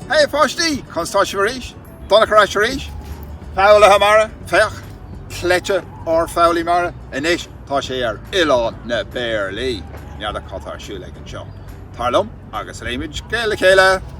Hey a pháistí! Conas tá sibh arís? Donncha ar ais arís? Foghlaithe mara? Féach! Cleite ár foghlaí mara! Anois tá sé ar Oileán na bPéarlaí! N'fheadar cad tá ar siúl aige anseo. Tar liom agus léifimid scéal le chéile!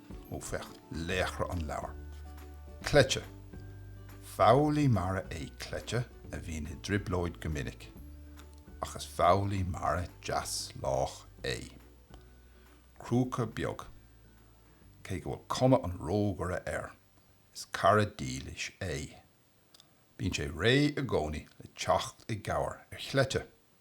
Ó féach laochra an leabhair. Cleite! Foghlaí mara é Cleite a bhíonn i dtrioblóid go minic, ach is foghlaí mara deas lách é. Crúca beag. Cé go bhfuil cuma an rógaire air, is cara dílis é. Bíonn sé réidh i gcónaí le teacht i gcabhair ar Chleite.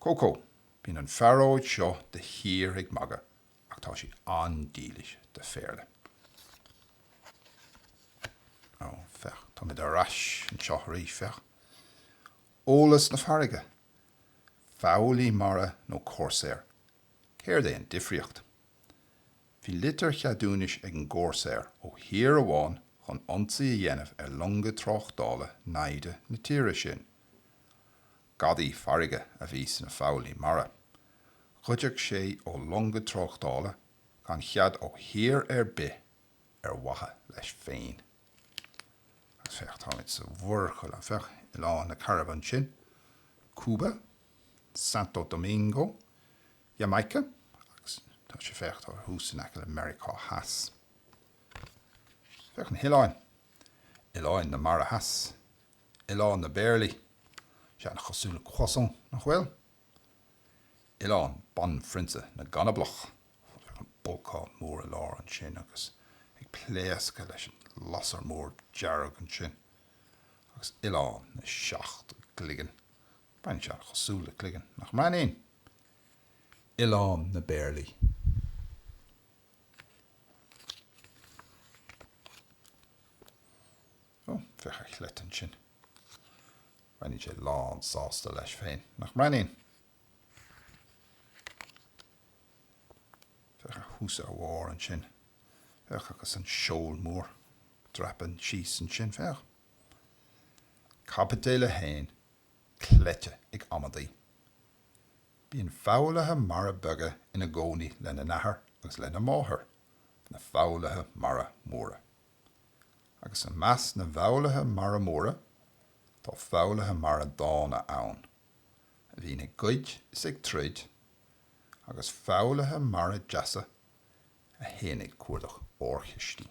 Cócó, Bíonn an phearóid seo de shíor ag magadh ach tá sí an-dílis do Phéarla. Ó, féach, táimid ar ais anseo arís, féach. Eolas na farraige, foghlaí mara nó corsaeir, céard é an difríocht? Bhí litir cheadúnais ag an gcorsaeir ó thír amháin chun ionsaí a dhéanamh ar longa tráchtála naimhde na tíre sin. Gadaí farraige a bhí sna foghlaí mara. Ghoideadh sé ó longa tráchtála gan chead ó thír ar bith ar mhaithe leis féin. Agus féach, táimid sa Mhuir Chairib, féach oileáin na Cairibe ansin, Cúba, Santo Domingo, Jamaica agus tá sé, féach, tá thuas in aice le Meiriceá Theas. Féach na hoileáin, oileáin na Mara Theas. oileán na bpéarlaí. Sé an-chosúil le croissant, nach bhfuil? Oileán banphrionsa na gcanablach. Féach an bolcán mór i lár ansin agus ag pléascadh leis an lasair mór dearg ansin. Agus oileán na seacht gcloigeann. Breathnaíonn sé an-chosúil le cloigeann, nach mbreathnaíonn? Oileán na bpéarlaí. Ó, féach ar Chleite ansin. Breathnaíonn sé lán sásta leis féin, nach mbreathnaíonn? Féach air thuas ar bharr ansin. Féach agus an seol mór dreapadh síos ansin, féach. Caibidil 1, cleite ag amaidí. Bíonn foghlaithe mara beaga ina gcónaí lena n-athair agus lena máthair, na foghlaithe mara móra. agus i measc na bhfoghlaithe mara móra, tá foghlaithe mara dána ann, a bhíonn ag goid is ag troid, agus foghlaithe mara deasa, a théann ag cuardach órchistí.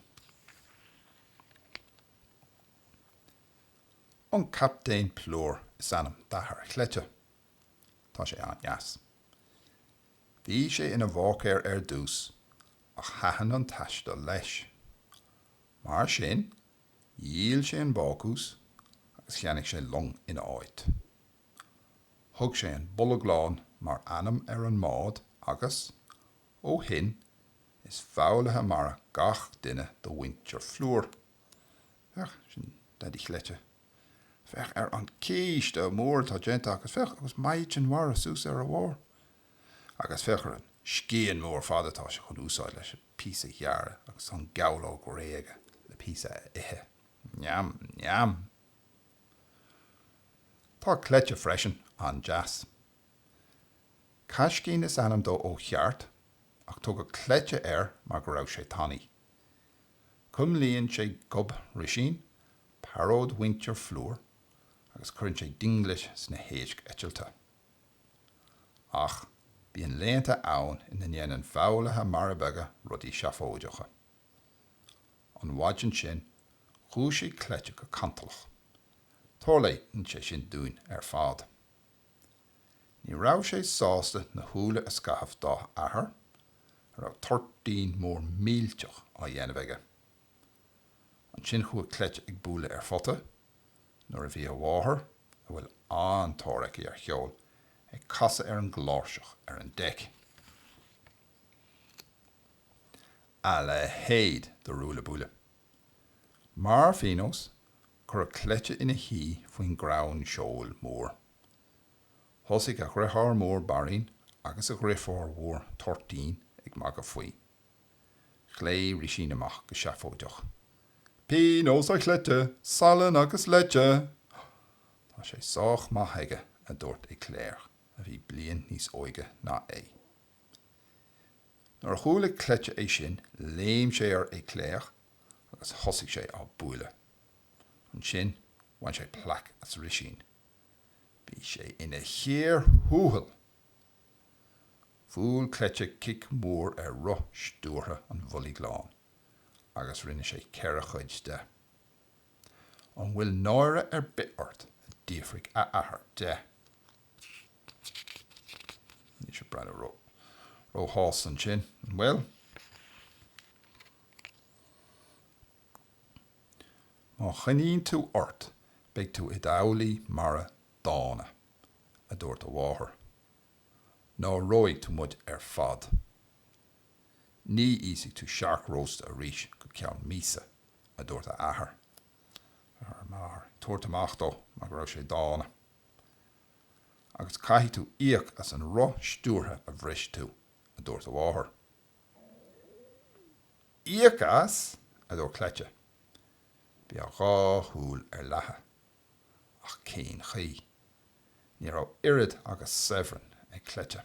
An Captaen Plúr is ainm d'athair Chleite. Tá sé an-deas. Bhí sé ina bháicéir ar dtús, ach thaitin an taisteal leis. Mar sin, dhíol sé an bácús agus cheannaigh sé long ina áit. Thug sé an Bolg Lán mar ainm ar an mbád agus, ó shin, is foghlaithe mara gach duine de mhuintir Phlúir. Féach, sin Daidí Chleite. Féach ar an císte mór atá déanta acu. Féach, agus maighdean mhara suas ar a bharr. Agus féach ar an scian mór fada atá sé chun úsáid leis an píosa a ghearradh agus an gabhlóg réidh aige le píosa a ithe. Neam, neam! Tá Cleite freisin an-deas. Caiscín is ainm dó ó cheart, ach tugadh Cleite air mar go raibh sé tanaí. Cuimlíonn sé gob Rísín, pearóid mhuintir Phlúir, agus cuireann sé dinglis sna héisc eitilte. Ach bíonn laethanta ann ina ndéanann foghlaithe mara beaga rudaí seafóideacha. An mhaidin sin, dhúisigh Cleite go cantalach. Tarlaíonn sé sin dúinn ar fad. Ní raibh sé sásta na húlla a scamhadh dá athair, a raibh toirtín mór millteach á dhéanamh aige. Ansin chuaigh Cleite ag bualadh ar phota nuair a bhí a mháthair, a bhfuil an-tóir aici ar cheol, ag casadh ar an gcláirseach ar an deic. A leithéid de ruaille buaille! Mar phionós, cuireadh Cleite ina shuí faoin gcrann seoil mór. Thosaigh a dhriotháir mór Bairín agus a dhrifiúr mhór Toirtín ag magadh faoi. Ghlaoigh Rísín amach go seafóideach, Pionós a Chleite, salann agus leite! Tá sé sách maith aige, a dúirt Éclair, a bhí bliain níos óige ná é. Nuair a chuala Cleite é sin, léim sé ar Éclair agus thosaigh sé á bualadh. Ansin bhain sé plaic as Rísín. Bhí sé ina chíor thuathail! Bhuail cleite cic mór ar roth stiúrtha an Bhoilg Láin agus rinne sé ceithre chuid de. An bhfuil náire ar bith ort? a d'fhiafraigh a athair de. Níl sé ag breathnú róshásta ansin, an bhfuil? Má choinníonn tú ort, beidh tú i d'fhoghlaí mara dána, a dúirt a mháthair, náirigh tú muid ar fad. Ní íosfaidh tú siorc rósta arís go ceann míosa, a dúirt a athair. A mháthair ag tabhairt amach dó mar go raibh sé dána. Agus caithfidh tú íoc as an roth stiúrtha a bhris tú, a dúirt a mháthair. Íoc as? a dúirt Cleite. Bhí a dhá shúil ar leathadh. Ach cén chaoi? Ní raibh oiread agus sabhran ag Cleite.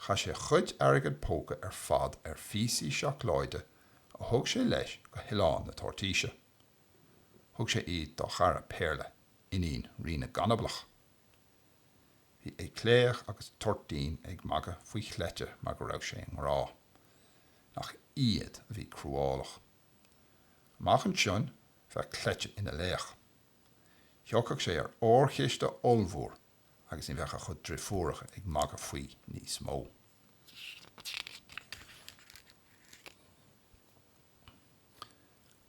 Chaith sé a chuid airgead póca ar fad ar phíosaí seacláide a thug sé leis go hOileán na Toirtíse. Thug sé iad dá chara Péarla, iníon Rí na gCanablach. Bhí Éclair agus Toirtín ag magadh faoi Chleite mar go raibh sé i ngrá. Nach iad a bhí cruálach. Amach ansin bheadh cleite ina laoch. Thiocfadh sé ar órchiste ollmhór agus ní bheadh a chuid driofúracha ag magadh faoi níos mó.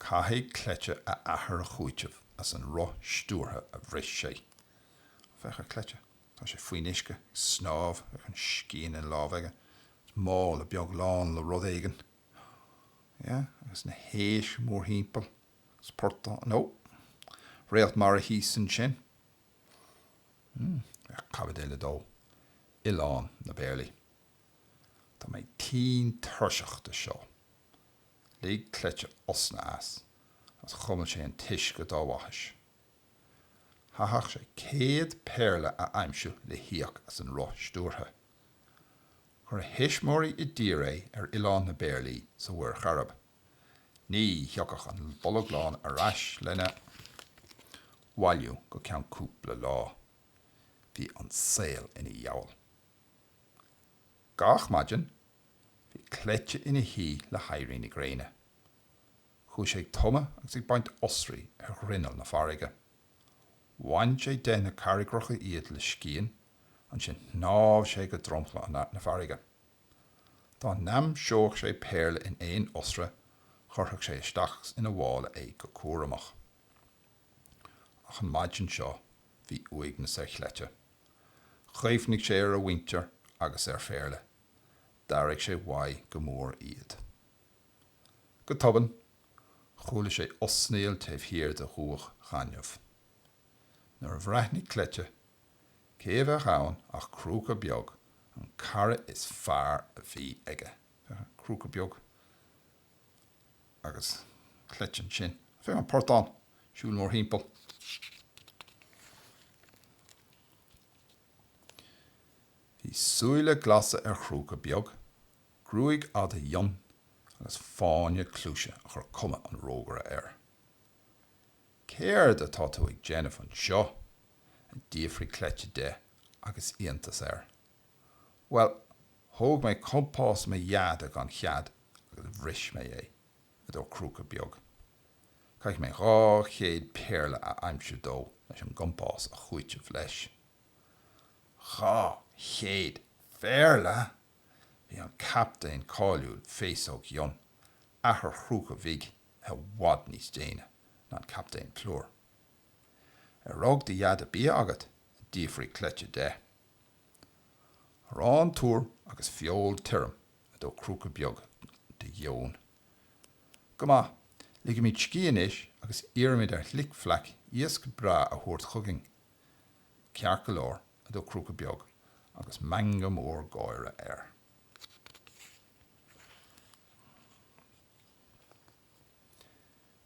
Caithfidh cleite a athair a chúiteamh as an roth stiúrtha a bhris sé. Ó, féach ar chleite. Tá sé faoin uisce, ag snámh, féach an scian ina lámh aige. Is mála beag lán le rud éigin. yeah, agus na héisc mórthimpeall, agus portán, no, réalt mara thíos ansin. Hmm, féach Caibidil 2, Oileán na bPéarlaí. Tá mé tinn tuirseach de seo. Lig cleite osna as, agus chuimil sé an t-uisce dá bhaithis. Chaithfeadh sé céad péarla a aimsiú le híoc as an roth stiúrtha. Chuir a thuismeoirí i dtír é ar oileán na bPéarlaí sa Mhuir Chairib. Ní thiocfadh an Bolg Lán ar ais lena bhailiú go ceann cúpla lá. Bhí an saol ina dheabhal. Gach maidin, bhí cleite ina shuí le héirí na gréine. Chuaigh sé ag tumadh agus ag baint oisrí ar ghrinneall na farraige. Bhain sé de na carraigreacha iad le scian Ansin shnámh sé go dromchla na farraige. Dá n-aimseodh sé péarla in aon oisre chuirfeadh sé isteach ina mhála é go cúramach. Ach an mhaidin seo bhí uaigneas ar Chleite. Chuimhnigh sé ar a mhuintir agus ar Phéarla. D'airigh sé uaidh go mór iad. Go tobann, chuala sé osnaíl taobh thiar de dhumhach ghainimh. Nuair a bhreathnaigh Cleite Cé a bheadh ann ach Crúca Beag, an cara is fearr a bhí aige. Crúca Beag agus Cleite ansin. Féach an portán ag siúl mórthimpeall. Bhí súile glasa ar Chrúca Beag, gruaig fhada fhionn agus fáinne cluaise a chuir cuma an rógaire air. Céard atá tú ag déanamh anseo? a d'fhiafraigh Cleite de agus iontas air. Bhuel, thóg mé compás mo dheaide gan chead agus bhris mé é, a dúirt Crúca Beag. Caithfidh mé dhá chéad péarla a aimsiú dó leis an gcompás a chúiteamh leis. Dhá chéad phéarla! Bhí an captaen cáiliúil Féasóg Fhionn, athair Chrúca Bhig, i bhfad níos déine ná an Captaen Plúr. Ar rug do dheaide bia agat? a d'fhiafraigh Cleite de. Arán tur agus feoil thirim, a dúirt Crúca Beag de gheoin. Go maith, ligimid scíth anois agus iarraimid ar Fhlic Fleaic iasc breá a thabhairt chugainn. Ceart go leor, a dúirt Crúca Beag agus meangadh mór gáire air.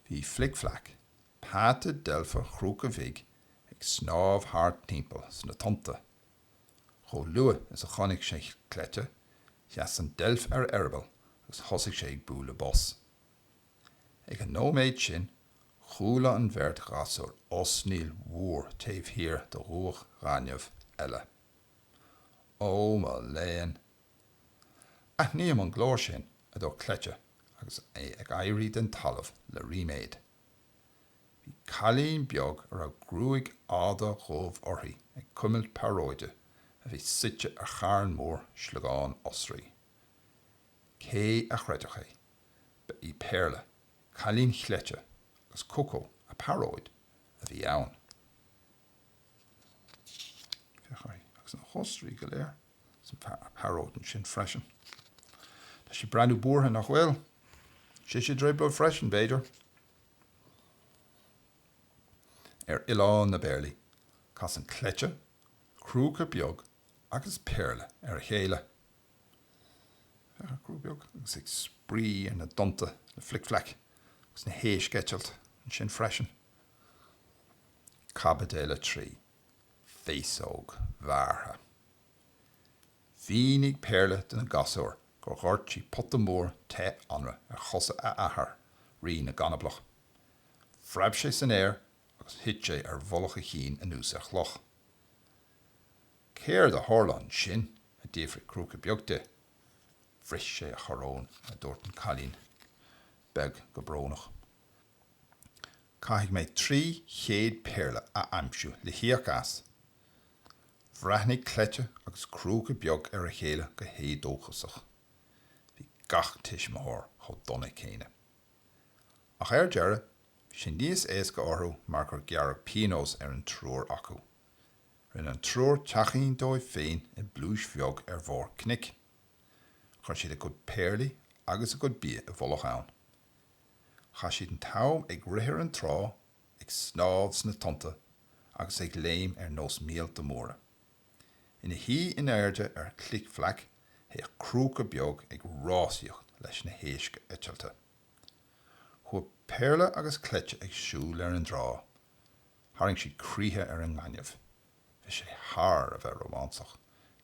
Bhí Flic Fleaic, peata deilfe Chrúca Bhig, ag snámh thart timpeall sna tonnta. Chomh luath is a chonaic sé Cleite, sheas an deilf ar a eireaball agus thosaigh sé ag bualadh bos. Ag an nóiméad sin, chuala an bheirt ghasúr osnaíl mhór taobh thiar de dhumhach ghainimh eile. Ó mo léan! Aithním an glór sin, a dúirt Cleite agus é ag éirí den talamh le ríméad. Bhí cailín beag a raibh gruaig fhada dhubh uirthi ag cuimilt pearóide a bhí suite ar charn mór sliogán oisrí. Cé a chreidfeadh é? Ba í Péarla, cailín Chleite, agus Cócó a pearóid, a bhí ann. Féach uirthi agus na hoisrí go léir. An phearóid ansin freisin. Tá sí breathnú buartha, nach bhfuil? Sise i dtrioblóid freisin, b'fhéidir? Ar oileán na bpéarlaí, casann Cleite, Crúca Beag agus Péarla ar a chéile. Féach, Crúca Beag agus ag spraoi ar na dtonnta le Flic Flac agus na héisc ag eitilt ansin freisin. Caibidil 3. Féasóg Bhearrtha. Mhínigh Péarla do na gasúir gur dhoirt sí pota mór te anraith ar chosa a hathar, Rí na gCanablach. Phreab sé san aer agus thit sé ar mhullach a chinn anuas ar chloch. Céard a tharla ansin? a d'fhiafraigh Crúca Beag di. Bhris sé a choróin, a dúirt an cailín beag go brónach. Caithfidh mé trí chéad péarla a aimsiú le híoc as. Bhreathnaigh Cleite agus Crúca Beag ar a chéile go héadóchasach. Bhí gach tuismitheoir chomh dona céanna. Ach ar deireadh, bhí sé níos éasca orthu mar gur gearradh pionós ar an triúr acu. Rinne an triúr teachín dóibh féin i bpluais bheag ar bharr cnoic. Chuir siad a gcuid péarlaí agus a gcuid bia i bhfolach ann. Chaith siad an t-am ag rith ar an trá, ag snámh sna tonnta agus ag léim ar nós míolta móra. Ina shuí in airde ar Flic Flac théadh Crúca Beag ag rásaíocht leis na héisc eitilte. Chuaigh Péarla agus Cleite ag siúl ar an dtrá. Tharraing siad croíthe ar an ngaineamh. Bhí sé thar a bheith rómánsach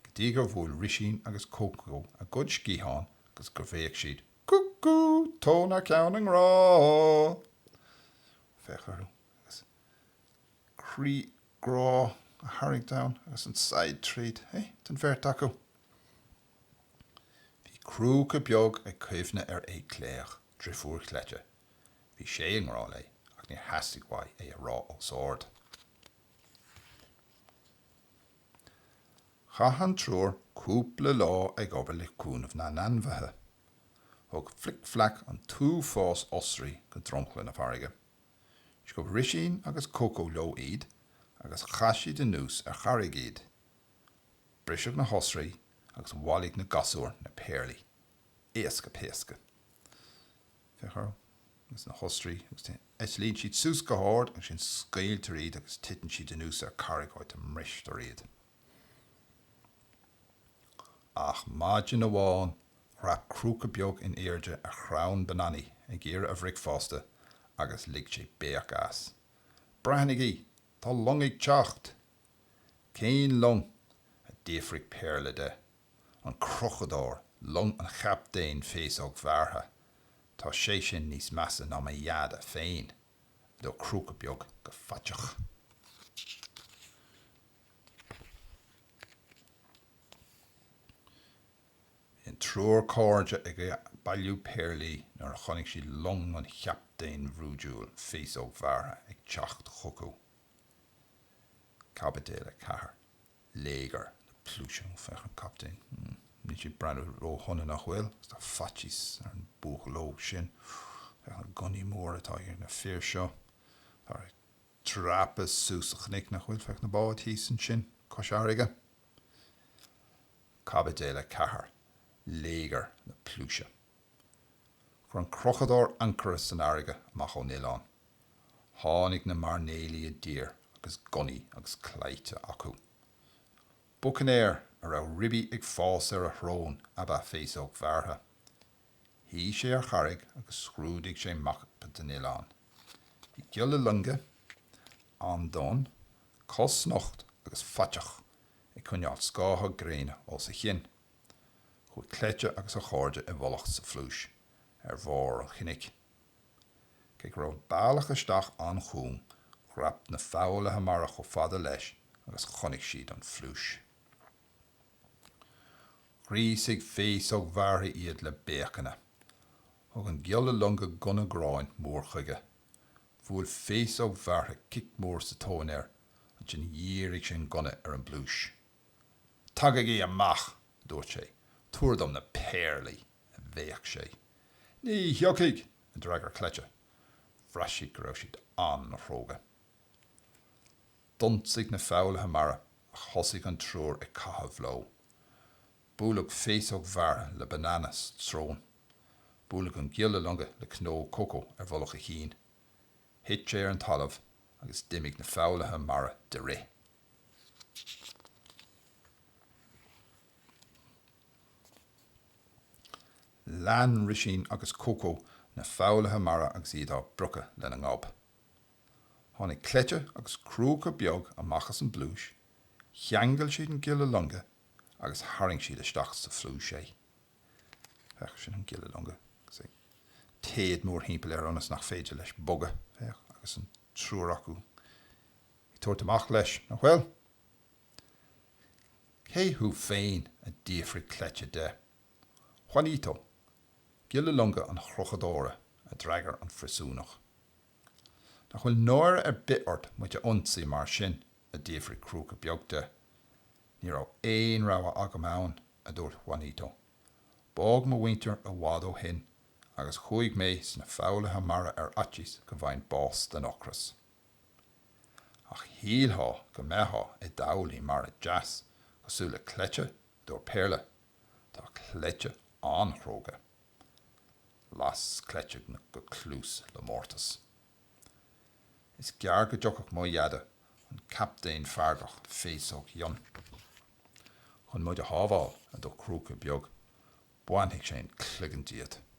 go dtí gur bhuail Risín agus Cócó a gcuid sciathán agus gur bhéic siad Cuckoo! Tóin thar ceann i ngrá! Féach orthu agus croí grá á tharraingt ann agus an saighead tríd, hé? den bheirt acu. Bhí Crúca Beag ag cuimhneamh ar Aodh Cléach, driofúr Chleite. Bhí sé i ngrá léi ach níor theastaigh uaidh é a rá os ard. Chaith an triúr cúpla lá ag obair le cúnamh na n-ainmhithe. Thug Flic Flac an t-uafás oisrí go dromchla na farraige. Sciob Risín agus Cócó leo iad agus chaith siad anuas ar charraig iad. Briseadh na hoisrí agus bhailigh na gasúir na péarlaí. Éasca péasca. Féach orthu agus na hoisrí, agus eitlíonn siad suas go hard, ansin scaoiltear iad agus titeann siad anuas ar carraig áit a mbristear iad. Ach maidin amháin dhreap Crúca Beag in airde ar chrann bananaí ag iarraidh a bhricfeasta agus lig sé béic as. Breathnaigí! Tá long ag teacht! Cén long? a d'fhiafraigh Péarla de. An Crochadóir, long an Chaptaein Féasóg Bhearrtha. Tá sé sin níos measa ná mo Dheaide féin, a dúirt Crúca Beag go faiteach. Bhí an triúr cairde ag bailiú péarlaí nuair a chonaic siad long an chaptaein bhrúidiúil Féasóg Bhearrtha ag teacht chucu. Caibidil 4. Léigear na pluaise. Ó féach an captaen. Níl sé ag breathnú ró-shona nach bhfuil, agus tá faitíos ar an buachaill óg sin. Féach na gunnaí móra atá ag na fir seo. Táthar ag dreapadh suas an chnoic nach bhfuil, féach na báid thíos ansin cois fharraige. Caibidil 4. Léigear na pluaise. Chuir an Crochadóir ancaire san fharraige amach ón oileán. Tháinig na mairnéalaigh i dtír agus gunnaí agus claimhte acu. Bucainéir a raibh ribí ag fás ar a shrón ab ea Féasóg Bhearrtha. Shuigh sé ar charraig agus scrúdaigh sé mapa den oileán. Bhí giolla loinge, an-donn, cosnocht agus faiteach, ag coinneáil scátha gréine os a chionn. Chuaigh Cleite agus a chairde i bhfolach sa phluais ar bharr an chnoic. Cé go raibh bealach isteach an-chúng, dhreap na foghlaithe mara chomh fada leis agus chonaic siad an phluais. Ghríosaigh Féasóg Bhearrtha iad le béiceanna. Thug an giolla longa gunna gráin mór chuige. Bhuail Féasóg Bhearrtha cic mór sa tóin air, ansin dhírigh sé an gunna ar an bpluais. Tagaigí amach, dúirt sé, tabhair dom na péarlaí, a bhéic sé. Ní thiocfaidh! a d'fhreagair Cleite. Bhraith siad go raibh siad an-chróga. D'ionsaigh na foghlaithe mara ach thosaigh an triúr ag caitheamh leo. Buaileadh Féasóg Bhearrtha le banana sa tsrón. Buaileadh an giolla longa le cnó cócó ar mhullach a chinn. Thit sé ar an talamh agus d'imigh na foghlaithe mara de rith. Lean Risín agus Cócó na foghlaithe mara agus iad á bpriocadh lena ngob. Tháinig Cleite agus Crúca Beag amach as an bpluais, cheangail siad an giolla longa agus tharraing siad isteach sa phluais é. Féach, sin an giolla longa, téad mórthimpeall air ionas nach féidir leis bogadh. Féach, agus an triúr acu. Ag tabhairt amach leis, nach bhfuil? Cé thú féin? a d'fhiafraigh Cleite de. Juanito, giolla longa an Chrochadóra, a d'fhreagair an phríosúnach. Nach bhfuil náire ar bith ort muid a ionsaí mar sin? a d'fhiafraigh Crúca Beag de. Ní raibh aon rogha agam ann, a dúirt Juanito. Bádh mo mhuintir i bhfad ó shin agus chuaigh mé sna foghlaithe mara ar fhaitíos go bhfaighinn bás den ocras. Ach shíltheá go mbeitheá i d'fhoghlaí mara deas cosúil le Cleite, a dúirt Péarla. Tá Cleite an-chróga. Las Cleite go cluas le mórtas. Is gearr go dtiocfadh mo dheaide an captaen feargach Féasóg Fhionn chun muid a shábháil, a dúirt Crúca Beag, bainfidh sé an cloigeann díot.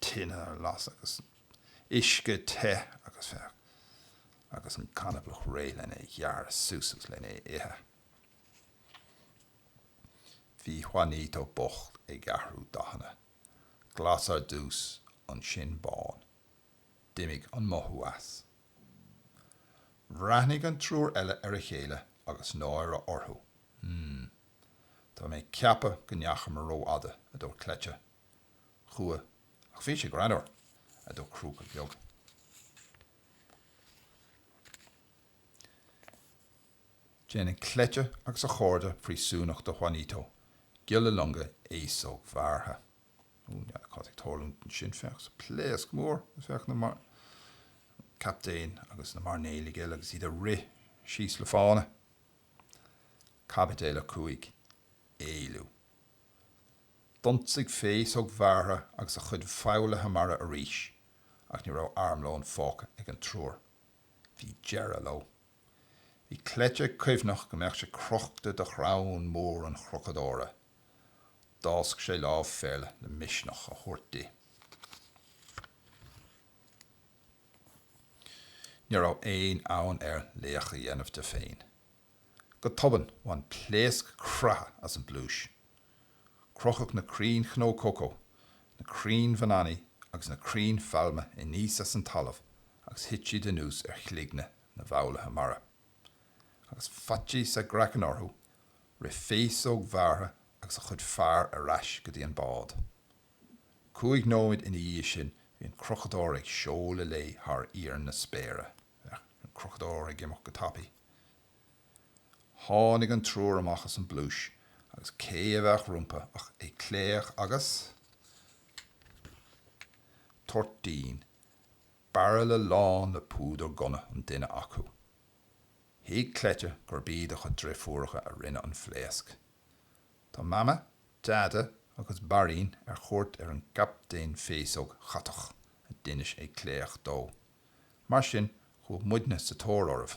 tine ar lasadh agus uisce te agus féach agus an canablach réidh lena ghearradh suas agus lena ithe. Bhí Juanito bocht ag athrú dathanna, glas ar dtús, ansin bán. D'imigh an mothú as. Bhreathnaigh an triúr eile ar a chéile agus náire orthu. Hm. Tá mé ag ceapadh go ndeachamar rófhada, a dúirt Cleite. Chuaigh, ach bhí sé greannmhar, a dúirt Crúca Beag. Déanann Cleite agus a chairde príosúnach do Juanito, giolla longa Fhéasóg Bhearrtha. Ó, ní fheadar cad atá ag tarlúint ansin, féach an pléasc mór, féach na captaein agus na mairnéalaigh eile agus iad ag rith síos le fána. Caibidil a cúig, Éalú. D'ionsaigh Féasóg Bhearrtha agus a chuid foghlaithe mara arís ach ní raibh armlón fágtha ag an triúr. Bhí deireadh leo. Bhí Cleite ag cuimhneach go mbeadh sé crochta de chrann mór an Chrochadóra. D'fhásc sé lámh Phéarla le misneach a thabhairt di. Ní raibh aon fhonn air laoch a dhéanamh de féin. Go tobann, bhain pléasc creathadh as an bpluais. Crochadh na crainn chnó cócó, na crainn bhananaí agus na crainn phailme aníos as an talamh agus thit siad anuas ar chloigne na bhfoghlaithe mara. Agus faitíos a gcraiceann orthu, rith Féasóg Bhearrtha agus a chuid fear ar ais go dtí an bád. Cúig nóiméad ina dhiaidh sin bhí an crochadóir ag seoladh léi thar íor na spéire. Bhí an crochadóir ag imeacht go tapaidh. Tháinig an triúr amach as an bpluais agus cé a bheadh rompu ach Aoicléach agus Toirtín, bairille lán le púdar gunna an duine acu. Thuig Cleite gurb iad a chuid driofúracha a rinne an phléasc. Tá Mama, Deaide agus Bairín ar chuairt ar an gCaptaen Féasóg Chatach, a d'inis Aoicléach dó. Mar sin, chuaigh muidne sa tóir oraibh.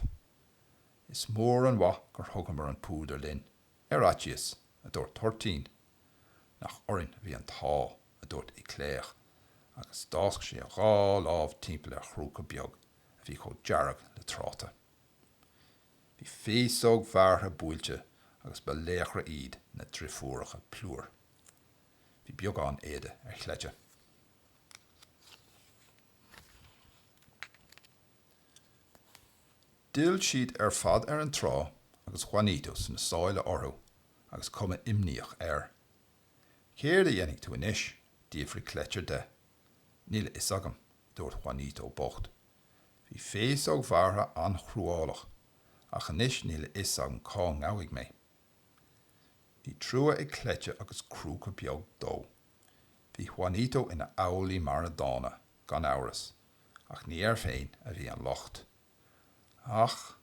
Is mór an mhaith gur thugamar an púdar linn, ar fhaitíos, a dúirt Toirtín. Nach orainn a bhí an t-ádh, a dúirt Aoicléach, agus d'fhásc sé a dhá lámh timpeall ar Chrúca Beag a bhí chomh dearg le tráta. Bhí Féasóg Bhearrtha buailte agus ba laochra iad na driofúracha Plúr. Bhí beagán éada ar Chleite. D'fhill siad ar fad ar an trá agus Juanito sna sála orthu agus cuma imníoch air. Céard a dhéanfaidh tú anois? d'fhiafraigh Cleite de. Níl a fhios agam, a dúirt Juanito bocht. Bhí Féasóg Bhearrtha an-chruálach, ach anois níl a fhios agam cá ngabhfaidh mé. Bhí trua ag Cleite agus Crúca Beag dó. Bhí Juanito ina fhoghlaí mara dána, gan amhras, ach ní air féin a bhí an locht. Ach.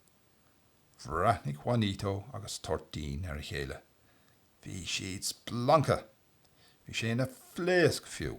bhreathnaigh Juanito agus Toirtín ar a chéile. Bhí siad splanctha! Bhí sé ina phléasc, fiú!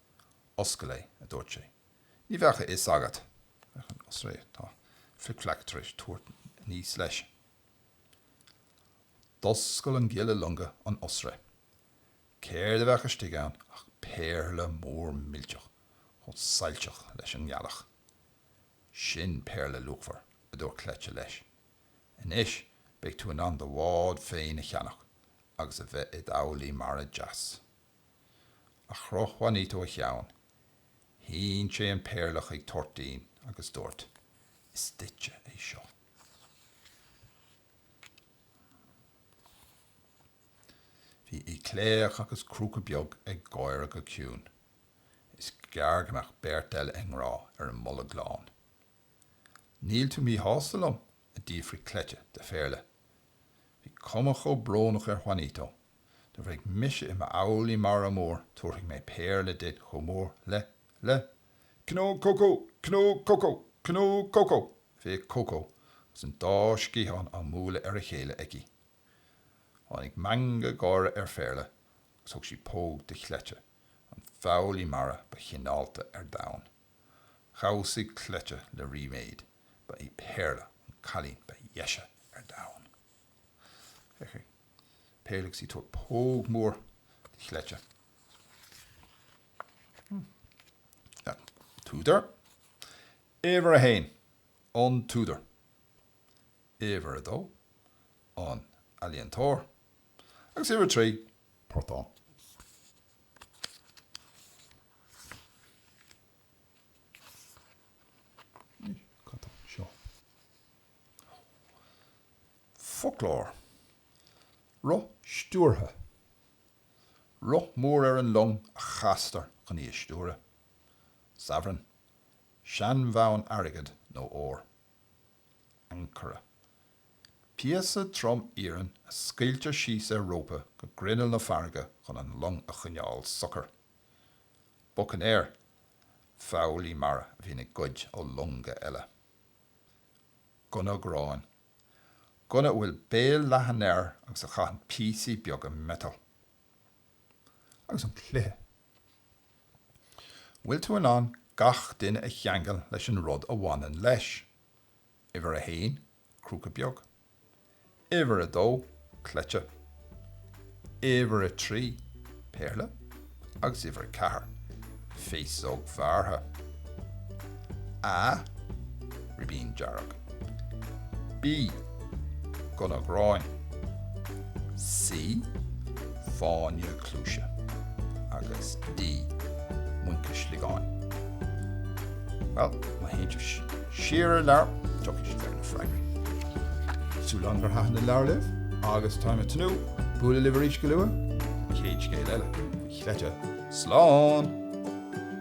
Oscail é, a dúirt sé. Ní bheadh a fhios agat. Oisre atá Flic-Fleac tar éis tabhairt aníos leis. D'oscail an giolla loinge an oisre. Céard a bheadh istigh ann ach péarla mór millteach chomh soilseach leis an ngealach. Sin péarla luachmhar, a dúirt Cleite leis. Anois beidh tú in ann do bhád féin a cheannach agus a bheith i d'fhoghlaí mara deas. A chroch Juanito a cheann. Shín sé an péarla chuig Toirtín agus dúirt, Is duitse é seo. Bhí Aoicléach agus Crúca Beag ag gáire go ciúin. Is gearr go mbeadh beirt eile i ngrá ar an mBolg Lán. Níl tú míshásta liom? a d'fhiafraigh Cleite de Phéarla. Bhí cuma chomh brónach ar Juanito Nuair a bheidh mise i m'fhoghlaí mara mór tabharfaidh mé péarla duit chomh mór le, le? cnó cócó! cnó cócó! cnó cócó! Bhéic Cócó agus an dá sciathán á mbualadh ar a chéile aici. Tháinig meangadh gáire ar Phéarla agus thug sí póg do Chleite, an foghlaí mara ba chineálta ar domhan. Dhamhsaigh Cleite le ríméad, ba í Péarla an cailín ba dheise ar domhan. Péarla agus í ag tabhairt póg mór do Chleite. An t-údar, Uimhir a haon, an t-údar. Uimhir a dó, an t-ealaíontóir. Agus uimhir a trí, portán. Cad tá anseo? Foclóir. Roth stiúrtha. Roth mór ar an long a chastar chun í a stiúradh. Sabhran. Seanbhonn airgid nó óir. Ancaire. Píosa trom iarainn a scaoiltear síos ar rópa go grinneall na farraige chun an long a choinneáil socair. Bucainéir. Foghlaí mara a bhíonn ag goid ó longa eile. Gunna gráin. Gunna a bhfuil béal leathan air agus a chaitheann píosaí beaga miotail. Agus an cluiche. An bhfuil tú in ann gach duine a cheangal leis an rud a bhaineann leis? Uimhir a haon, crúca beag. Uimhir a dó, cleite. Uimhir a trí, péarla. Agus uimhir a ceathair, féasóg bhearrtha. A, ribín dearg. B, gunna gráin. C, fáinne cluaise agus D muince sliogáin. Bhuel, má théann tú siar ar an leabhar, tiocfaidh sibh ar na freagraí. Súil liom gur thaitin an leabhar libh agus táim ag tnúth bualadh libh arís go luath! Céad scéal eile faoi Chleite. Slán!